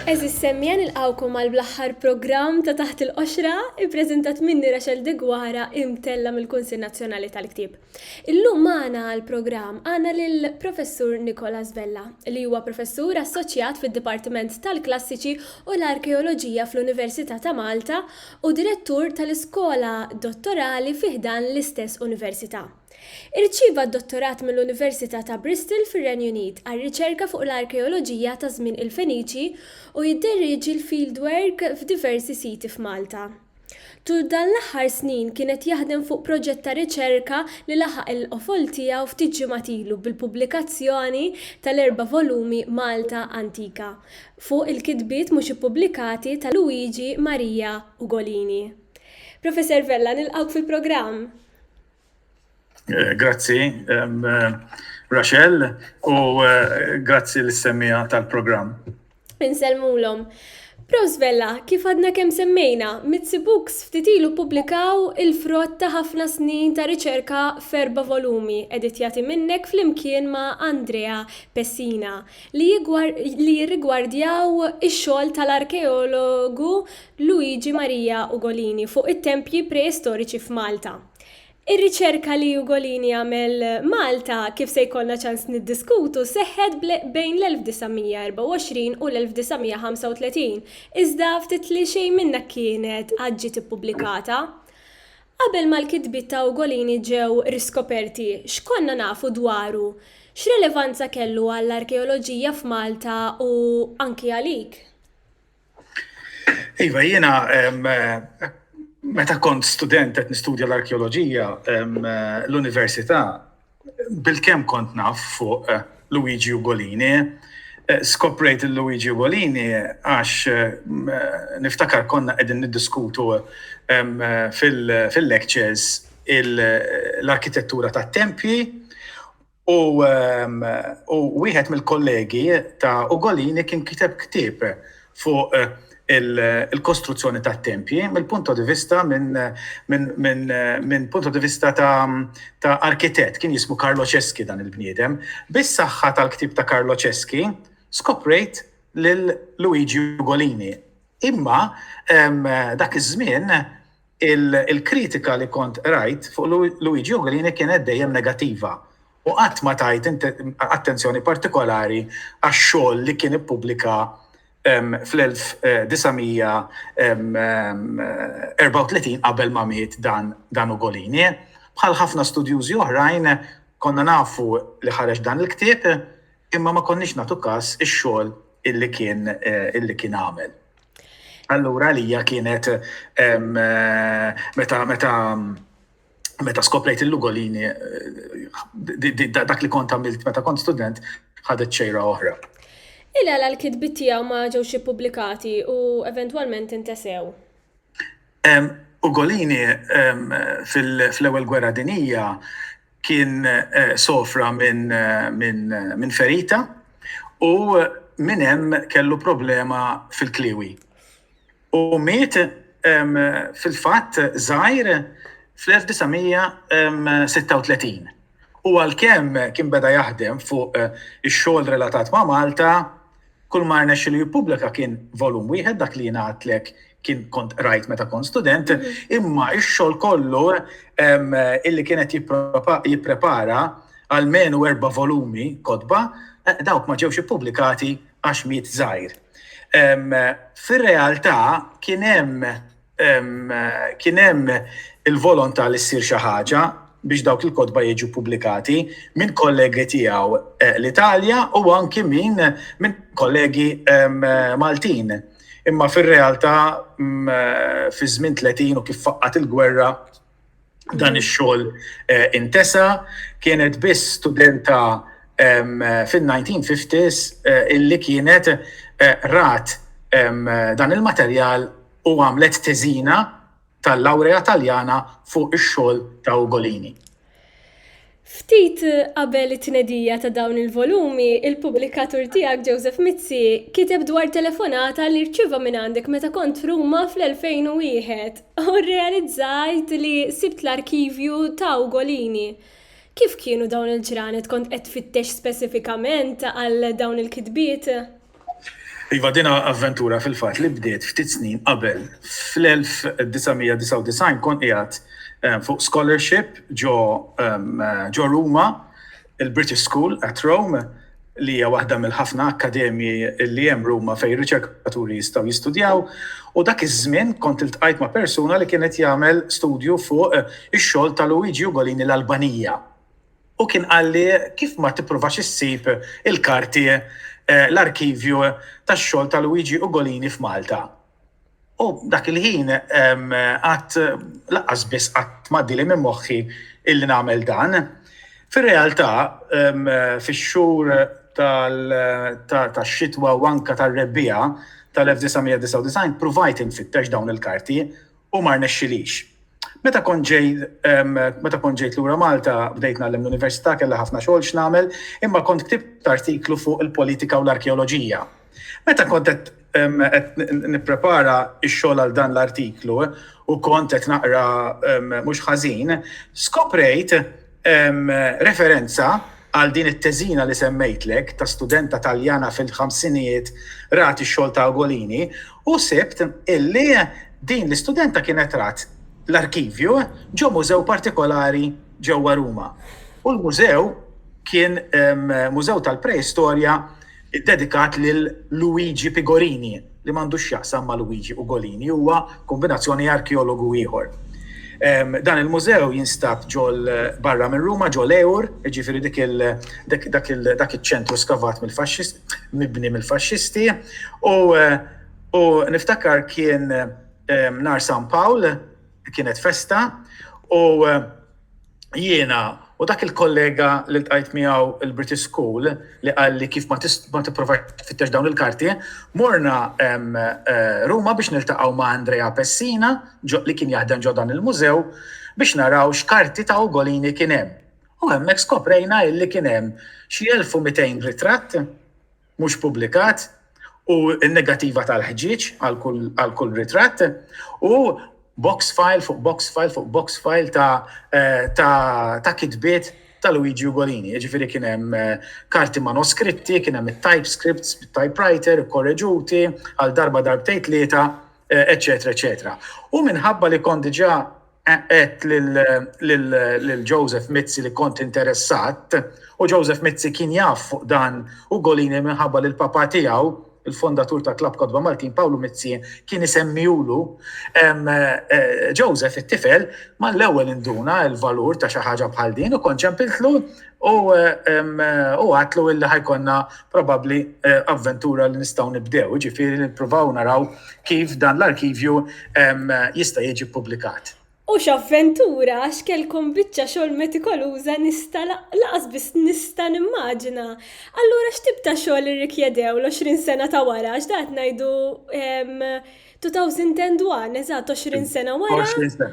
Eżis semmien il-qawkom għal bl-aħħar programm ta' taħt il-qoxra ippreżentat minni Rachel Degwara imtella mill-Kunsill Nazzjonali tal-Ktieb. Illum magħna għall-programm għandna lill-Professur Nicholas Vella, li huwa Professur Assoċjat fid-Dipartiment tal-Klassiċi u l-Arkeoloġija fl-Università ta' Malta u Direttur tal-Iskola Dottorali fi ħdan l-istess Università. Irċieva d-Dottorat mill-Università ta' Bristol fir-Renju Unit għar-riċerka fuq l-arkeoloġija ta' żmien il-Feniċi u jidderieġi l-fieldwork f'diversi siti f'Malta. Tul dan l-aħħar snin kien qed jaħdem fuq proġett ta' riċerka li laħaq il-qofol tiegħu ftit ġimgħat ilu bil-pubblikazzjoni tal-erba' volumi Malta Antika fuq il-kitbiet mhux ippubblikati ta' Luigi Maria Ugolini. Professor Vella, nilqgħuk fil-programm! Eh, grazzi, eh, Rachel, u eh, grazzi l-semmija tal-programm. Insellmulhom. Prost Bella, kif għadna kemm semmejna, Mitzi Books ftit ilu publikaw il-frott ta' ħafna snin ta' riċerka ferba volumi editjati minnek flimkien ma' Andrea Pessina li jirrigwardjaw ix-xogħol tal-arkeologu Luigi Maria Ugolini fuq it-tempji preistoriċi f'Malta. Ir-riċerka li Ugolini għamel Malta kif se jkollna ċans niddiskutu seħħet bejn l-1924 u l-1935, iżda ftit li xejn minnha kienet għad ġiet ippubblikata. Qabel ma l-kitbiet ta' Ugolini ġew riskoperti, x'konna nafu dwaru? X'relevanza kellu għall-arkeoloġija f'Malta u anki għalik? Iva, jiena meta kont student qed nistudja l-arkeoloġija l-università bil-kemm kont naf fuq eh, Luigi Ugolini. Eh, skoprejt il-Luigi Ugolini għax eh, niftakar konna qegħdin niddiskutu fil-lectures l-arkitettura tat-tempji U wieħed mill-kollegi ta' Ugolini kien kiteb ktieb fuq il-kostruzzjoni tat-tempji mill-punto di vista minn punto di vista ta' arkitett, kien jismu Carlo Ceschi dan il-bniedem. Bis-saħħa tal-ktieb ta' Carlo Ceschi skoprejt lil Luigi Ugolini. Imma dak iż-żmien, Il-kritika li kont qrajt fuq Luigi Ugolini kienet dejjem negattiva u qatt ma tajt attenzjoni partikolari għax-xogħol li kien ippubblika fl-1934 qabel ma miet dan Ugolini. Bħal ħafna studjużi oħrajn konna nafu li ħareġ dan il-ktieb imma ma konniex nagħtu kas ix-xogħol illi kien għamel. Allura għalija kienet meta meta meta skoprejt il-Lugolini eh, dak li kont għamilt meta kont student ħadet xejra oħra. Illa għal kitbit tiegħu ma ġewx ippubblikati u eventwalment intesew. Ugolini fl-Ewwel Gwerra Dinjija kien sofra minn ferita u minn hemm kellu problema fil-kliewi. U miet fil-fatt żgħir fl-1936. U għalkemm kien beda jaħdem fuq ix-xogħol relatat ma' Malta, kull ma rnexxielu jippubblika kien volum wieħed, dak li jien għidtlek kien kont rajt meta kont student, mhm. imma ix-xogħol kollu illi kienet jipprepara għal menu erba' volumi kodba, eh, dawk ma ġewx ippubblikati għax miet żgħir. Fir-realtà kien hemm kien hemm il-volontà li ssir xi ħaġa biex dawk il-kodba jiġu publikati minn kollegi tiegħu eh, l-Italja u anki minn min kollegi Maltin. Imma fir-realtà fi żmien 30 u kif faqqat il-gwerra dan ix-xogħol eh, intesa kienet biss studenta fin-1950s eh, illi kienet eh, rat dan il-materjal u għamlet teżina tal-lawrea Taljana fuq ix-xogħol ta' Ugolini. Ftit qabel it-tnedija ta' dawn il-volumi, il-pubblikatur tiegħek Joseph Mizzi kiteb dwar telefonata li rċieva mingħandek meta kont Ruma fl-2001 u rrealizzajt li sibt l-arkivju ta' Ugolini. Kif kienu dawn il-ġranet kont qed tfittex speċifikament għal dawn il-kitbiet? Iva, din avventura fil-fatt li bdiet ftit snin qabel. Fl-1999 kont qiegħed eh, fuq scholarship ġo eh, Ruma, il-British School at Rome, li hija waħda mill-ħafna akkademji li hemm Ruma fejn riċerkaturi jistgħu jistudjaw u dak iż-żmien kont iltqajt ma' persuna li kienet jagħmel studju fuq eh, ix-xogħol ta' Luigi Ugolini l-Albanija. u kien qalli kif ma tipprovax issib il-karti, l-arkivju tax-xogħol ta' Luigi Ugolini f'Malta. U dak il-ħin qatt lanqas biss qatt m'għaddieli minn moħħi illi nagħmel dan. Fir-realtà, fix-xhur tax-xitwa u anke tar-rebbiegħa tal-1999 ppruvajt infittex dawn il-karti u ma rnexxilix. Meta kont ġejt meta kont ġejt lura Malta bdejt nagħlem l-università kellha ħafna xogħol x'nagħmel, imma kont ktibt artiklu fuq il-politika u l-arkeoloġija. Meta kont qed nipprepara x-xogħol għal dan l-artiklu u kont qed naqra mhux ħażin, skoprejt Hemm referenza għal din it-teżina li semmejtlek ta' studenta Taljana fil-ħamsinijiet rat ix-xogħol ta' Ugolini u sibt illi din l-istudenta kienet rat l-arkivju ġo mużew partikolari ġewwa Ruma u l-mużew kien mużew tal-preistorja Iddedikat lil Luigi Pigorini, li m'għandu x'jaqsam ma' Luigi Ugolini, huwa kombinazzjoni arkeologu ieħor. Dan il-mużew jinstab ġol barra minn Ruma, ġol Eur, jiġifieri dik il dak iċ-ċentru skavat mill-Faxxis mibni mill-Faxxisti, u u niftakar kien nhar San Pawl, kienet festa, u, jiena u dak il-kollega li ltqajt miegħu il-British School li qal li kif ma tipprova tfittex dawn il-karti, morna eh, Ruma biex niltaqgħu ma' Andrea Pessina li kien jaħdem ġo dan il-mużew biex naraw x'karti ta' Ugolini kien hemm. U hemmhekk skoprejna illi kien hemm xi 1200 ritratt mhux pubblikat u n-negattiva tal-ħġieġ għal kull ritratt u box file fuq box file fuq box file ta' kitbiet ta' Luigi Ugolini. Jiġifieri kien hemm eh, karti manoskritti, kien hemm it-typescripts bit-typewriter korreġuti għal darba darbtejt tlieta, eċetera, eh, eċetera. U minħabba li kont diġà Għedt lil Joseph Mizzi li kont interessat u Joseph Mizzi kien jaf fuq dan Ugolini minħabba li l-papà tiegħu, il-fondatur ta' Klabb Kotba Maltin, Pawlu Mizzi, kien isemmihulu. Joseph, it-tifel, mal-ewwel induna l-valur ta' xi ħaġa bħal din u kont ċempiltlu U hu għidlu illi ħa jkollna probabbli avventura li nistgħu nibdew, jiġifieri li nippruvaw naraw kif dan l-arkivju jista' jiġi ppubblikat. U x'avventura għax kellkom biċċa xogħol metikoluża nista' lanqas biss nista' nimmaġina. Allura x'tip ta' xogħol irrikjedew l-għoxrin sena ta' wara għax dan qed ngħidu 2001, eżatt, 20 sena wara. 20 sena.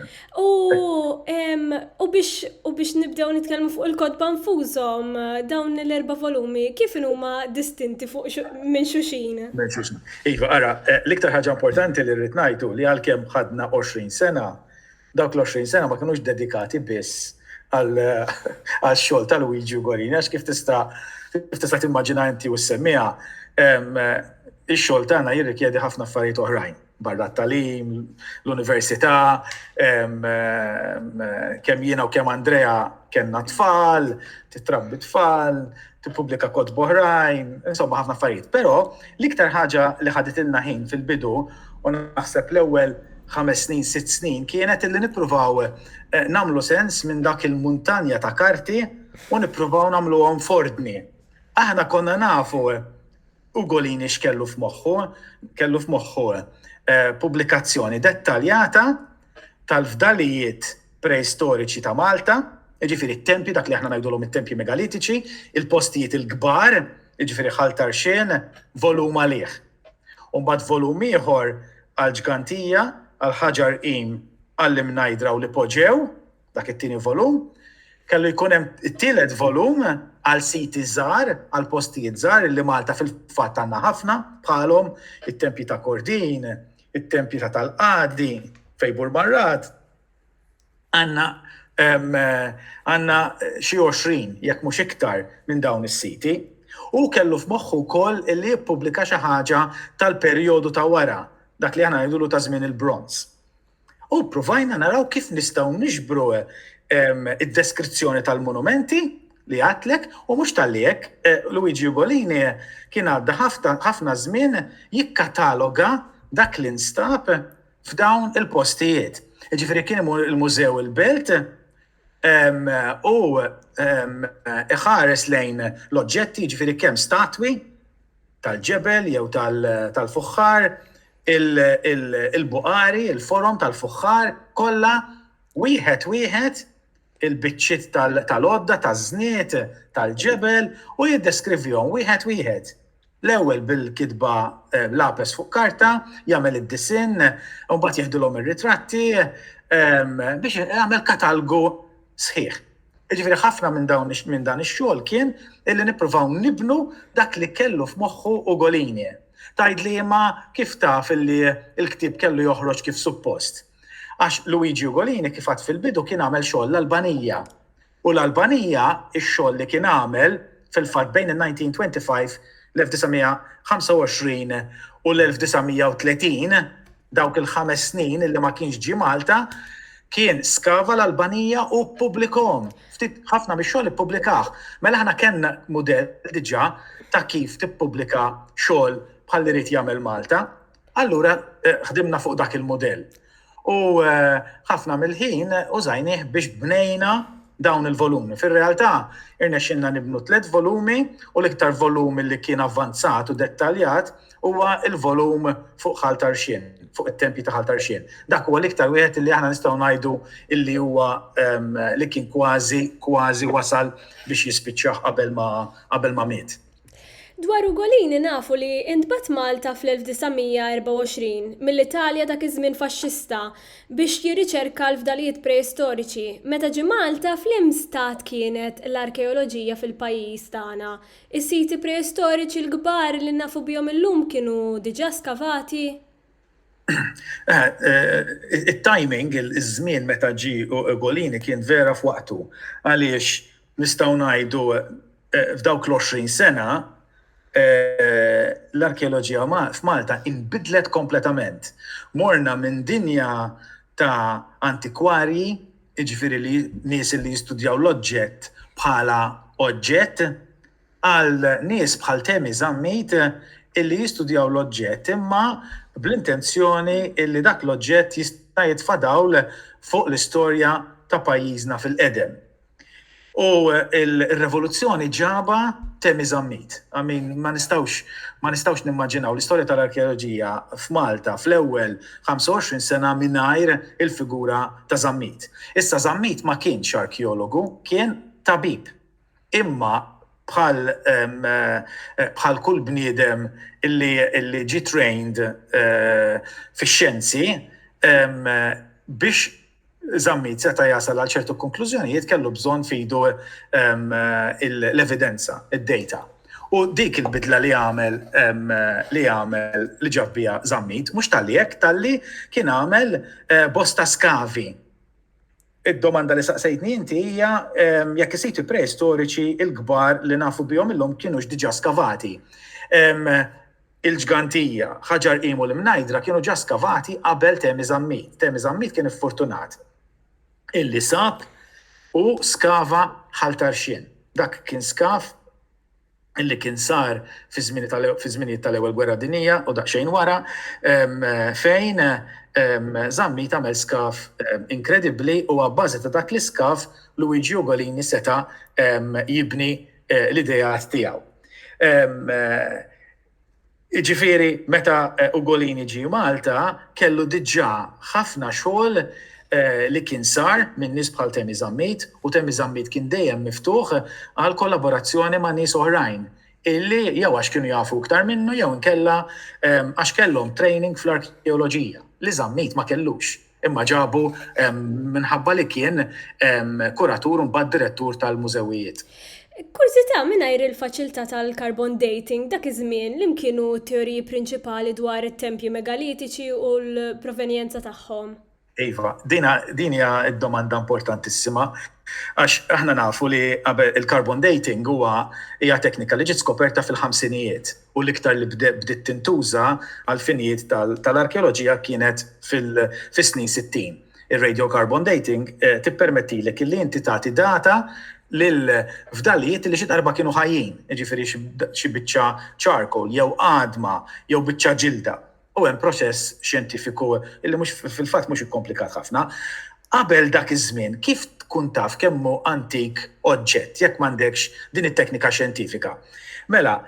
U biex nibdew nitkellmu fuq il-kotba nfushom dawn l-erba' volumi, kif huma distinti fuq minn xuxin? Minn xuxin. Iva, ara, eh, l-iktar ħaġa importanti li rrid ngħidu li għalkemm ħadna 20 sena, Dawk l-20 sena ma kinux dedikati biss għax-xogħol ta' Luigi Ugorini għax kif tista' kif tista' timmaġina inti u s-semmiegħa ix-xogħol tagħna jirrikjedi ħafna affarijiet oħrajn barra t-tagħlim, l-università, kemm jiena u kemm Andrea kellna tfal, titrabbi tfal, tippubblika kotba oħrajn, insomma ħafna affarijiet. Però l-iktar ħaġa li ħaditilna ħin fil-bidu u naħseb l-ewwel ħames snin, sitt snin kienet illi nippruvaw eh, nagħmlu sens minn dak il-muntanja ta' karti u nippruvaw nagħmluhom f'ordni. Aħna konna nafu eh, Ugolini x'kellu f'moħħu, kellu f'moħħu eh, pubblikazzjoni dettaljata tal-fdalijiet preistoriċi ta' Malta, jiġifieri t-tempji, dak li aħna ngħidulhom it-tempji megalitiċi, il-postijiet il-kbar, jiġifieri Ħal Tarxien, volum għalih. U mbagħad volum ieħor għall-Ġgantija, għall-Ħaġar Qim, għall-Imnajdra u l-Ipoġew, dak it-tieni volum, kellu jkun hemm it-tielet volum għal siti żgħar, għal postijiet żgħar li Malta fil-fatt għandna ħafna bħalhom it-tempji ta' Kordin, it-tempji ta' tal-Qadi, Fejbur Marrat, għandna għandna xi 20 jekk mhux iktar minn dawn is-siti. U kellu f'moħħu wkoll li jippubblika xi ħaġa tal-perjodu ta' wara, dak li aħna ngħidulu ta' żmien il-bronz. U ppruvajna naraw kif nistgħu niġbru id-deskrizzjoni tal-munumenti li għadtlek u mhux talli hekk, Luigi Ugolini kien għadda ħafna żmien jikkataloga dak li nstab f'dawn il-postijiet. Jiġifieri kien imur il-Mużew il-Belt u iħares lejn l-oġġetti ġifiri kemm statwi tal-ġebel jew tal-fuħħar, il-buqari, il-forom tal-fuħħar, kollha wieħed wieħed il-biċċiet tal-għodda taż-żnied tal-ġebel u jiddeskrivihom wieħed wieħed. L-ewwel bil-kitba bl-għapes fuq karta, jagħmel id-disinn, u mbagħad jeħdilhom ir-ritratti biex jagħmel katalgu sħiħ. Jiġifieri ħafna minn dawn minn dan ix-xogħol kien illi nippruvaw nibnu dak li kellu f'moħħu Ugolini. Tgħidli imma kif taf illi l-ktieb kellu joħroġ kif suppost? Għax Luigi Ugolini kif għadt fil-bidu kien għamel xogħol l-Albanija. U l-Albanija, ix-xogħol li kien għamel, fil-fatt, bejn in-1925, l-1925 u l-1930, dawk il-ħames snin li ma kienx ġie Malta, kien skava l-Albanija u ppubblikahom. Ftit ħafna mix-xogħol ippubblikah. Mela aħna kellna mudell diġà ta' kif tippubblika xogħol bħal li ried jagħmel Malta. Allura eh, ħdimna fuq dak il-modell. U eh, ħafna mill-ħin użajnih biex bnejna dawn il-volumi. Fil-realtà, irnexxinna nibnu tliet volumi u l-iktar volum li kien avvanzat u dettaljat huwa il-volum fuq ħaltarxin, fuq it-tempji ta' ħaltarxin. Dak huwa l-iktar wieħed li aħna nistgħu ngħidu illi huwa ehm, li kien kważi kważi wasal biex jispiċċaħ qabel ma qabel ma miet. Dwar Ugolini nafu li intbagħat Malta fl-1924 mill-Italja dak iż-żmien faxxista biex jirriċerka l-fdalijiet preistoriċi. Meta ġie Malta fl-im stat kienet l-arkeoloġija fil-pajjiż tagħna? Is-siti preistoriċi l-kbar li nafu bihom illum kienu diġà skavati? It-timing, iż-żmien meta ġie Ugolini kien vera f'waqtu għaliex nistgħu ngħidu f'dawk l-20 sena l-arkeoloġija f'Malta inbidlet kompletament. Morna minn dinja ta' antikwarji, jiġifieri nies li jistudjaw l-oġġett bħala oġġett, Għal nies bħal Temi Zammit illi jistudjaw l-oġġett imma bl-intenzjoni illi dak l-oġġett jista' jitfa' dawl fuq l-istorja ta' pajjiżna fil-qedem. U r-revoluzzjoni ġabha Temi Zammit. I mean, ma nistgħux ma nistgħux nimmaġinaw l-istorja tal-arkeoloġija f'Malta fl-ewwel 25 sena mingħajr il-figura ta' Zammit. Issa Zammit ma kienx arkeologu, kien tabib. Imma bħal bħal kull bniedem illi illi ġie trained fix-xjenzi biex Zammit seta' jasal għal ċertu konklużjonijiet kellu bżonn f'idu l-evidenza, id-data. U dik il-bidla li għamel li għamel li ġab biha Zammit mhux talli hekk talli kien għamel bosta skavi Id-domanda li saqsejtni inti hija jekk is-siti preistoriċi l-kbar li nafu bihom illum kinux diġà skavati. Il-Ġgantija, Ħaġar Qim u l-Imnajdra kienu ġa skavati qabel Temi Żammit. Temi Żammit kien iffortunat illi sab u skava Ħal Tarxien. Dak kien skav. li kien sar fiż-żminijiet tal-Ewwel Gwerra Dinjija u daqsxejn wara, fejn Zammit għamel skav inkredibbli u abbażi ta' dak l-iskav Luigi Ugolini seta' jibni l-ideat tiegħu. Jiġifieri meta Ugolini ġie Malta kellu diġà ħafna xogħol li kien sar minn nies bħal Temi Zammit u Temi Zammit kien dejjem miftuħ għal kollaborazzjoni ma' nies oħrajn illi jew għax kienu jafu iktar minnu jew inkella għax kellhom training fl-arkeoloġija li Zammit ma kellux. Imma ġabu minħabba li kien kuratur u mbagħad direttur tal-mużewijiet. Kurżità, mingħajr il-faċilità tal-carbon dating, dak iż-żmien, li mkienu t-teoriji prinċipali dwar it-tempji megalitiċi u l-provenjenza tagħhom? Iva, din hija domanda importantissima għax aħna nafu li qabel il-carbon dating huwa hija teknika li ġiet skoperta fil-ħamsinijiet. u l-iktar li bdiet tintuża għall-finijiet tal-arkeoloġija kienet fis-snin sittin. Ir-radiocarbon dating tippermettilek illi inti tagħti data lil fdalijiet li xi darba kienu ħajjin, jiġifieri xi biċċa charcoal jew għadma jew biċċa ġilda. u hemm proċess xjentifiku li mhux fil-fatt mhux ikkomplikat ħafna. Qabel dak iż-żmien kif tkun taf kemm hu antik oġġett jekk m'għandekx din it-teknika xjentifika? Mela,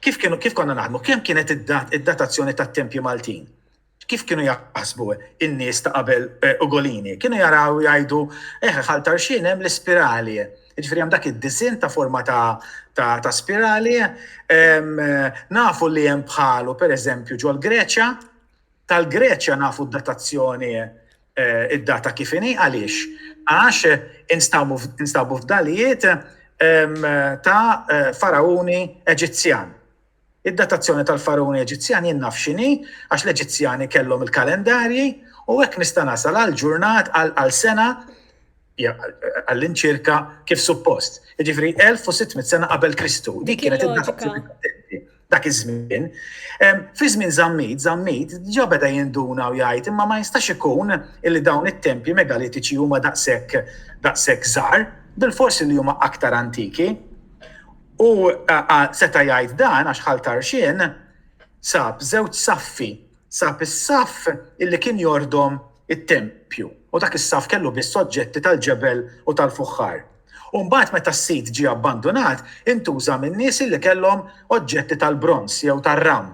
kif kienu kif konna naħdmu? Kemm kienet id-datazzjoni tat-tempji Maltin? Kif kienu jaħsbu in-nies ta' qabel Ugolini? Kienu jaraw jgħidu, eh ħal Tarxien hemm l-ispirali. Jiġifieri hemm dak id-disinn ta' forma ta' ta' ta' spirali. Ehm, nafu li hemm bħalu pereżempju ġol-Greċja. Tal-Greċja nafu d-datazzjoni eh, id-data kif inhi għaliex? Għax instabu f- instabu fdalijiet ehm, ta' eh, farauni Eġizzjan. Id-datazzjoni tal-faruni Eġizzjan jien naf x'inhi għax l-Eġizzjani kellhom il-kalendarji u hekk nista' nasal għal ġurnat għal sena għall-inċirka kif suppost. Jiġifieri 1600 sena qabel Kristu. Dik kienet id-datazzjoni dak iż-żmien. Fi żmien Żammit, Żammit ġa beda jinduna u jgħid imma ma jistax ikun li dawn it-tempji megalitiċi huma daqshekk daqshekk żgħar, bilfors li huma aktar antiki. U seta' jgħid dan għax Ħal Tarxien sab żewġ saffi, sab is-saff illi kien jordom it-tempju u dak is-saff kellu biss oġġetti tal-ġebel u tal-fuħħar. U mbagħad meta s-sit ġie abbandunat, intuża min-nies illi kellhom oġġetti tal-bronż jew tar-ram.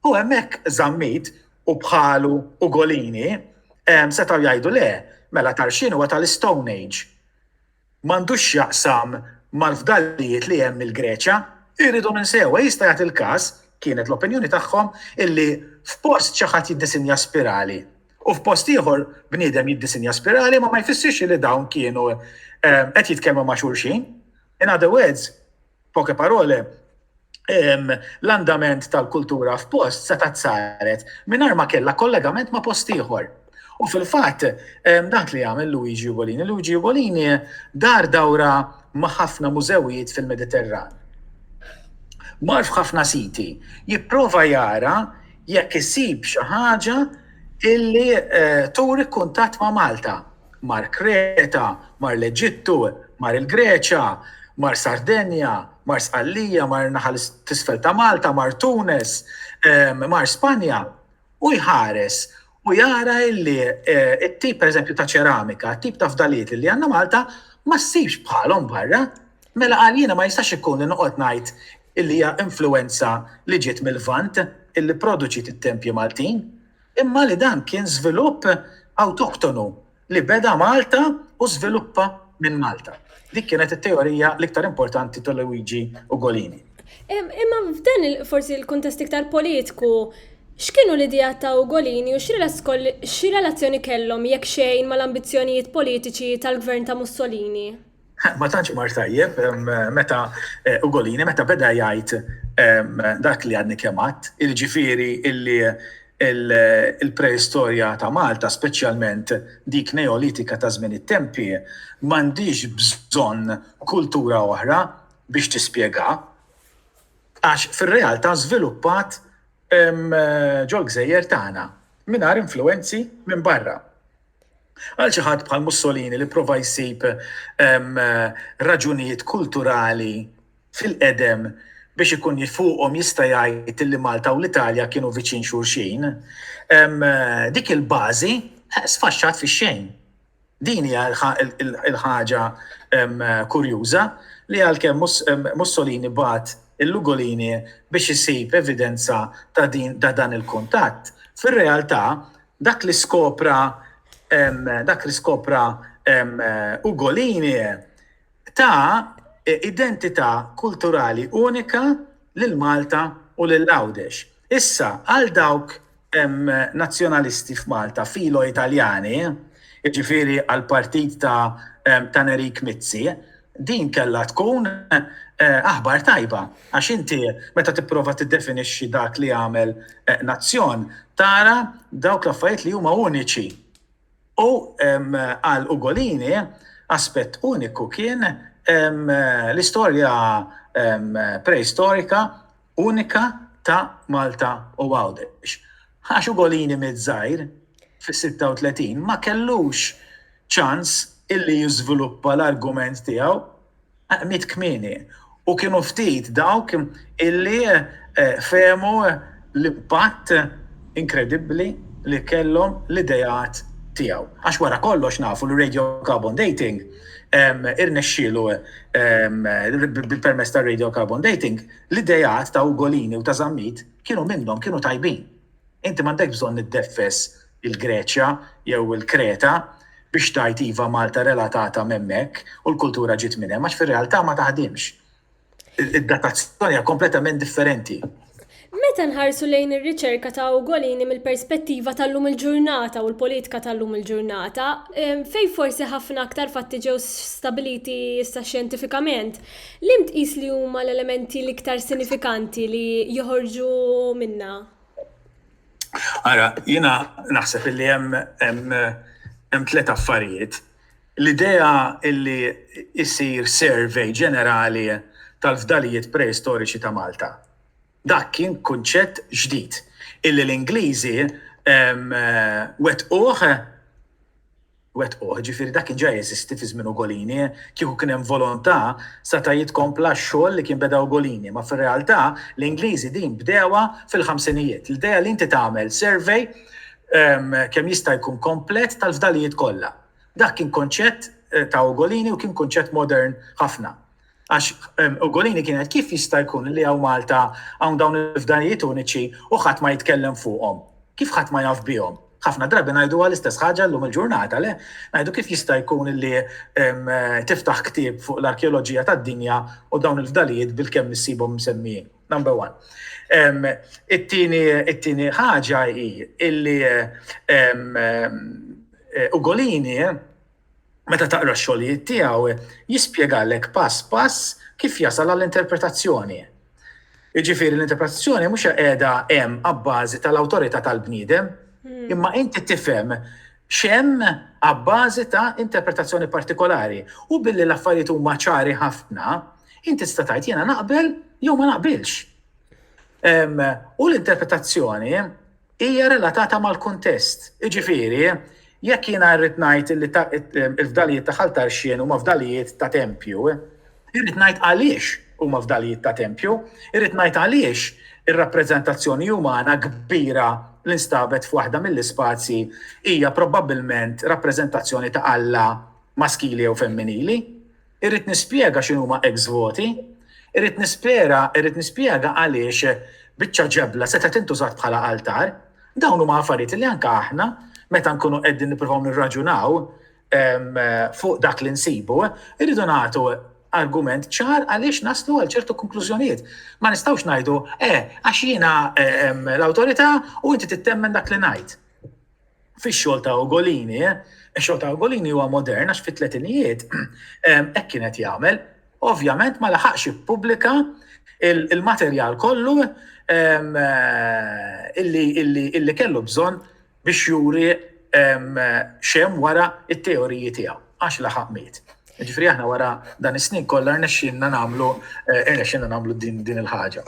U hemmhekk Zammit u bħalu Ugolini setgħu jgħidu le, mela Tarxien huwa tal-Istone Age. m'għandux x'jaqsam mal-fdalijiet li hemm mill-Greċja, irridu minn sewwa, jista' jagħti l-każ, kienet l-opinjoni tagħhom, illi f'post xi ħadd jiddisinja spirali u f'post ieħor bniedem jiddisinja spirali imma ma jfissirx illi dawn kienu qed jitkellmu ma' xulxin. In other words, Poche parole, l-andament tal-kultura f'post setgħet saret mingħajr ma kellha kollegament ma' post ieħor. U fil-fatt, dak li għamel Luigi Ugolini. Luigi Ugolini dar dawra ma' ħafna mużewijiet fil-Mediterran. Mar f'ħafna siti jipprova jara jekk isib xi ħaġa illi turi kuntatt ma' Malta. Mar Kreta, mar l-Eġittu, mar il-Greċja, mar Sardenja, mar Sqallija, mar in-naħa t'isfel ta' Malta, mar Tunes, mar Spanja, u jħares u jara illi t-tip pereżempju ta' ċeramika, t-tip ta' fdalijiet li għandna Malta ma ssibx bħalhom barra. Mela qal jiena ma jistax ikun li noqgħod ngħid illi hija influwenza li ġiet mil-Lvant illi pproduċiet it-tempji Maltin. imma li dan kien żvilupp awtoktonu li beda Malta u żviluppa minn Malta. Dik kienet it-teorija l-iktar importanti ta' Luigi Ugolini. Imma f'dan forsi l-kuntest iktar politiku, x'kienu l-ideat ta' Ugolini u xi relazzjoni kellhom jekk xejn mal-ambizzjonijiet politiċi tal-Gvern ta' Mussolini? Ma tantx mar tajjeb meta Ugolini meta beda jgħid dak li għadni kemm għadd, il-ġifieri illi il-preistorja ta' Malta, speċjalment dik Neolitika ta' żmien it-tempi, m'għandhiex bżonn kultura oħra biex tispjegha, għax fir-realtà żviluppat ġol-gżejjer tagħna mingħajr influwenzi minn barra. Għal xi ħadd bħal Mussolini li pprova jsib raġunijiet kulturali fil-qedem biex ikun fuqhom jista' jgħid li Malta u l-Italja kienu viċin xulxin, dik il-bażi sfaxxat fix-xejn. Din hija l-ħaġa kurjuża li għalkemm Mussolini bagħat il-Lugolini biex isib evidenza ta' dan il-kuntatt, fir-realtà Dak li skopra dak li skopra Ugolini ta identità kulturali unika lil Malta u lil Għawdex. Issa, għal dawk nazzjonalisti f'Malta filo Italjani, jiġifieri għall-partit ta' ta' Nerik Mizzi, din kellha tkun aħbar tajba. Għax inti, meta tipprova tiddefinixxi dak li jagħmel nazzjon, tara dawk l-affarijiet li huma uniċi. U għal Ugolini, aspett uniku kien l-istorja preistorika unika ta' Malta u Għawdex. Għax Ugolini miż-żgħir, fis-36, ma kellux ċans illi jiżviluppa l-argument tiegħu. miet kmieni u kienu ftit dawk illi fehmu l-impatt inkredibbli li kellhom l-ideat tiegħu. Għax wara kollox nafu li radiocarbon dating irnexxielu bil-permezz tar-radiocarbon dating l-ideat ta' Ugolini u ta' Zammit kienu minnhom, kienu tajbin. Inti m'għandekx bżonn iddeffes il-Greċja jew il-Kreta biex tgħid iva Malta relatata m'hemmhekk u l-kultura ġiet minn hemm għax fir-realtà ma taħdimx. Id-datazzjoni hija kompletament differenti. Meta nħarsu lejn ir-riċerka ta' Ugolini mill-perspettiva tal-lum il-ġurnata u l-politika tal-lum il-ġurnata, fejn forsi ħafna aktar fatti ġew stabiliti issa xjentifikament, Liema tqis li huma l-elementi l-iktar sinifikanti li joħorġu minnha? Ara, jiena naħseb li hemm tliet affarijiet. L-idea li jsir survey ġenerali tal-fdalijiet preistoriċi ta' Malta. Dak kien kunċett ġdid illi l-Ingliżi wettquh wettquh, jiġifieri dak kien ġa jeżisti fi żmien Ugolini, kieku kien hemm volontà seta' jitkompla x-xogħol li kien beda Ugolini, imma fir-realtà l-Ingliżi din bdewha fil-ħamsinijiet. L-idea li inti tagħmel survey kemm jista' jkun komplet tal-fdalijiet kollha. Dak kien konċett ta' Ugolini u kien kunċett modern ħafna. Għax Ugolini kienet kif jista' jkun li hawn Malta hawn dawn il-fdalijiet uniċi u ħadd ma jitkellem fuqhom? Kif ħadd ma jaf bihom? Ħafna drabi ngħiduha l-istess ħaġa llum il-ġurnata, le? Ngħidu kif jista' jkun li tiftaħ ktieb fuq l-arkeoloġija tad-dinja u dawn il-fdalijiet bilkemm issibhom msemmijin. Number one. It-tieni it-tieni ħaġa hi illi Ugolini Meta taqra x-xogħlijiet tiegħu, jispjegalek pass pass kif jasal għall-interpretazzjoni. Jiġifieri l-interpretazzjoni mhux qiegħda hemm abbażi tal-awtorità tal-bniedem, imma inti tifhem x'hemm abbażi ta' interpretazzjoni partikolari. U billi l-affarijiet huma ċari ħafna, inti tista' tgħid jiena naqbel jew ma naqbilx. U l-interpretazzjoni Hija relatata mal-kuntest. Jiġifieri, jekk jiena rrid ngħid li l-fdalijiet ta' Ħal Tarxien huma fdalijiet ta' tempju, irrid ngħid għaliex huma fdalijiet ta' tempju, irrid ngħid għaliex ir-rappreżentazzjoni umana kbira li nstabet f'waħda mill-ispazji hija probabbilment rappreżentazzjoni ta' Alla maskili jew femminili. Irrid nispjega x'inhuma ex-voti. Irrid nispjega, irrid nispjega għaliex biċċa ġebla setgħet tintużat bħala altar. Dawn huma affarijiet li anke aħna meta nkunu qegħdin nippruvaw nirraġunaw fuq dak li nsibu, irridu nagħtu argument ċar għaliex naslu għal ċertu konklużjonijiet. Ma nistgħux ngħidu, eh, għax jiena l-awtorità u inti tittemmen dak li ngħid. fix-xogħol ta' Ugolini, ix-xogħol ta' Ugolini huwa modern għax fit-tletinijiet hekk kien qed jagħmel. Ovvjament ma laħaqx ippubblika il-materjal kollu illi kellu bżonn biex juri xem wara it-teoriji tiegħu għax laħaq miet. Ġifri aħna wara dan is-snin kollha rnexxinna nagħmlu rnexxinna nagħmlu din din il-ħaġa.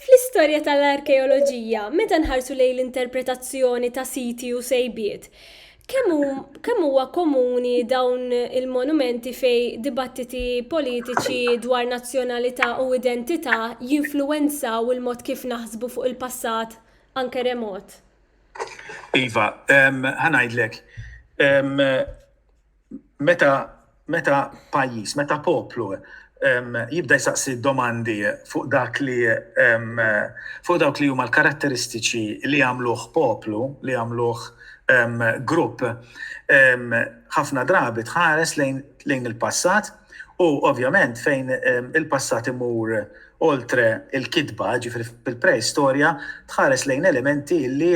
Fl-istorja tal-arkeoloġija, meta nħarsu lejn l-interpretazzjoni ta' siti u sejbiet, kemm huwa komuni dawn il-monumenti fej dibattiti politiċi dwar nazzjonalità u identità jinfluwenzaw il-mod kif naħsbu fuq il-passat anke remot? Iva, ħa ngħidlek. Meta meta pajjiż, meta poplu jibda jsaqsi domandi fuq dak li fuq dawk li huma l-karatteristiċi li jagħmluh poplu, li jagħmluh grupp, ħafna drabi tħares lejn il-passat U ovvjament fejn il-passat imur oltre il-kitba, ġifieri fil-preistorja, tħares lejn elementi li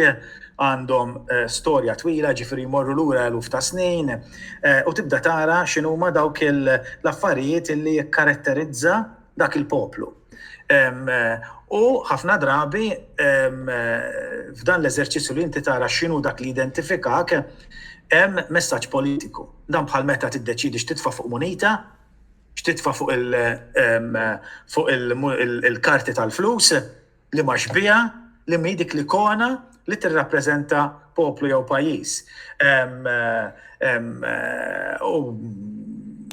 għandhom storja twila, ġifieri jmorru lura eluf ta' snin, u tibda tara x'inhuma dawk l-affarijiet li jikkaratterizza, dak il-poplu. U ħafna drabi f'dan l-eżerċizzju li inti tara x'inhu dak li identifikak hemm messaġġ politiku. Dan bħal meta tiddeċidi x'titfa' fuq munita, x'titfa' fuq il-karti tal-flus, Liema xbieha li mhi dik l-ikona li tirrappreżenta poplu jew pajjiż? U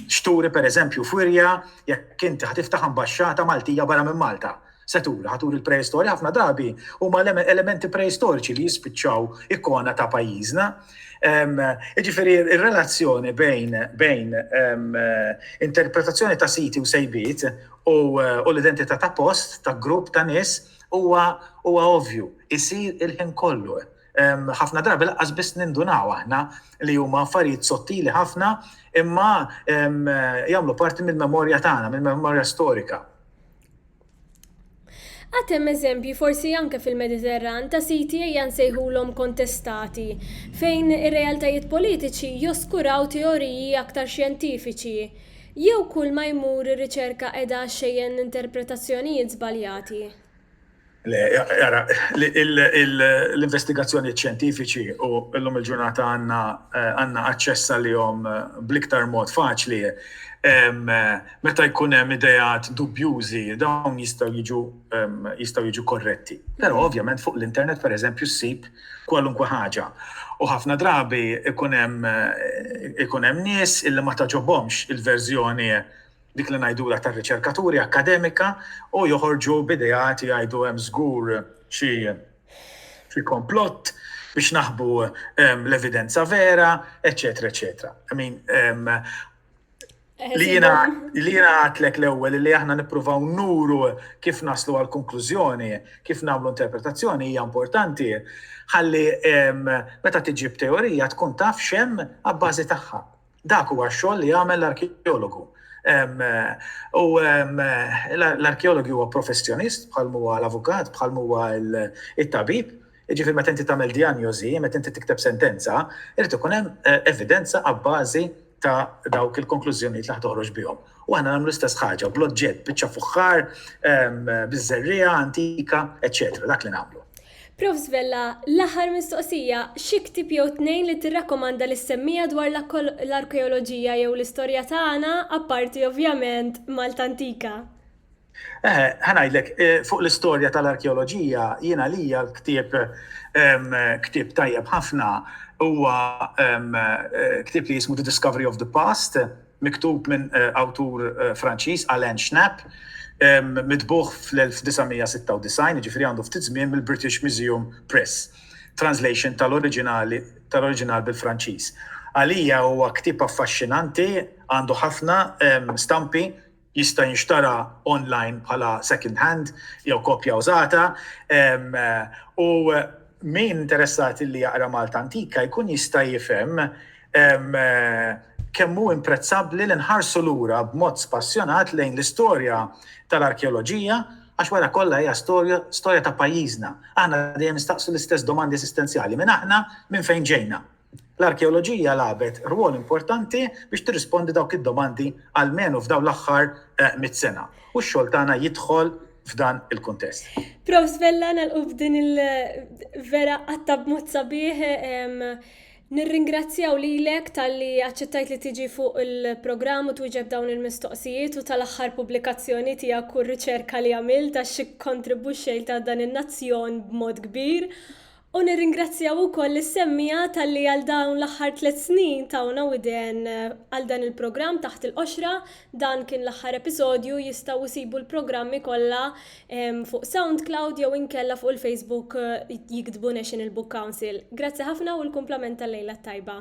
x'turi pereżempju f'wirja jekk inti ħa tiftaħ ambaxxata Maltija barra minn Malta? Se turi? Ħa turi l-preistorja? Ħafna drabi huma elementi preistoriċi li jispiċċaw ikona ta' pajjiżna. Jiġifieri r-relazzjoni bejn interpretazzjoni ta' siti u sejbiet u l-identità ta' post, ta' grupp ta' nies huwa huwa ovvju, isir il-ħin kollu. Ħafna drabi lanqas biss nindunaw aħna li huma affarijiet sottili ħafna imma jagħmlu parti mill-memorja tagħna, mill-memorja storika. Għad hemm eżempji, forsi anke fil-Mediterran, ta' siti ejja nsejħulhom kontestati, fejn ir-realtajiet politiċi joskuraw teoriji aktar xjentifiċi Jew kulma jmur ir-riċerka qiegħda xxejjen interpretazzjonijiet żbaljati? Le, ara, l-investigazzjonijiet xjentifiċi u llum il-ġurnata għandna għandna aċċess għalihom bl-iktar mod faċli. Meta jkun hemm ideat dubjużi dawn jistgħu jiġu jistgħu jiġu korretti. Però ovvjament fuq l-internet pereżempju ssib kwalunkwe ħaġa. U ħafna drabi ikun hemm ikun hemm nies illi ma tagħġobhomx il-verżjoni dik li ngħidulha tar-riċerkaturi akkademika u joħorġu b'ideat jgħidu hemm żgur xi xi komplott biex naħbu l-evidenza vera, eċċetera, eċċetera. I mean, Li jina li jina għatlek l-ewwel li aħna nippruvaw nuru kif naslu għal konklużjoni, kif nagħmlu interpretazzjoni hija importanti ħalli meta tiġi b'teorija tkun taf xem abbażi tagħha. Dak huwa x-xogħol li jagħmel l-arkeologu. U l-arkeologu huwa professjonist bħal huwa l-avukat, bħal huwa it-tabib, Jiġifieri meta inti tagħmel dijanjożi, meta inti tikteb sentenza, irid ikun hemm evidenza abbażi ta' dawk il-konklużjonijiet li ħa toħroġ bihom. U aħna nagħmlu l-istess ħaġa bl-oġġett, biċċa fuħħar, biż-żerriegħa antika, eċċetera, dak li nagħmlu. Profs Vella, l-aħħar mistoqsija, xi ktieb jew tnejn li tirrakkomanda li ssemmija dwar l-arkeoloġija jew l-istorja tagħna, apparti ovvjament Malta Antika? Eħe, ħa ngħidlek, fuq l-istorja tal-arkeoloġija, jien għalija l-ktieb ktieb tajjeb ħafna huwa ktieb li jismu The Discovery of the Past, miktub minn awtur Franċiż, Alain Schnapp, mitbuħ fl-1996, jiġifieri għandu ftit żmien mill-British Museum Press, translation tal-oriġinali tal-oriġinal bil-Franċiż. Għalija huwa ktieb affaxxinanti, għandu ħafna stampi, jista' jinxtara online bħala second hand jew kopja użata u min interessat li jaqra Malta Antika jkun jista' jifhem kemm hu imprezzabbli li nħarsu lura b'mod spassjonat lejn l-istorja tal-arkeoloġija għax wara kollha hija storja ta' pajjiżna. Aħna dejjem nistaqsu l-istess domandi eżistenzjali, min aħna, minn fejn ġejna? L-arkeoloġija lagħbet rwol importanti biex tirrispondi dawk id-domandi almenu f'dawn l-aħħar mitt sena u x-xogħol tagħna jidħol f'dan il-kuntest. Prof. Vella, nagħlqu b'din il vera qatta' b'mod sabiħ. Nirringrazzjaw lilek talli aċċettajt li tiġi fuq il-programm u twieġeb dawn il-mistoqsijiet u tal-aħħar pubblikazzjoni tiegħek u r-riċerka li għamilt għax ikkontribwixxejt għal dan in-nazzjon b'mod kbir. U nirringrazzjaw ukoll lis-semmiegħa talli għal dawn l-aħħar tliet snin tawna widen għal dan il-programm Taħt il-Qoxra. Dan kien l-aħħar episodju, jistgħu jsibu l-programmi kollha fuq Soundcloud jew inkella fuq il-Facebook jiktbu National Book Council. Grazzi ħafna u l-kumplament tal-lejla t-tajba.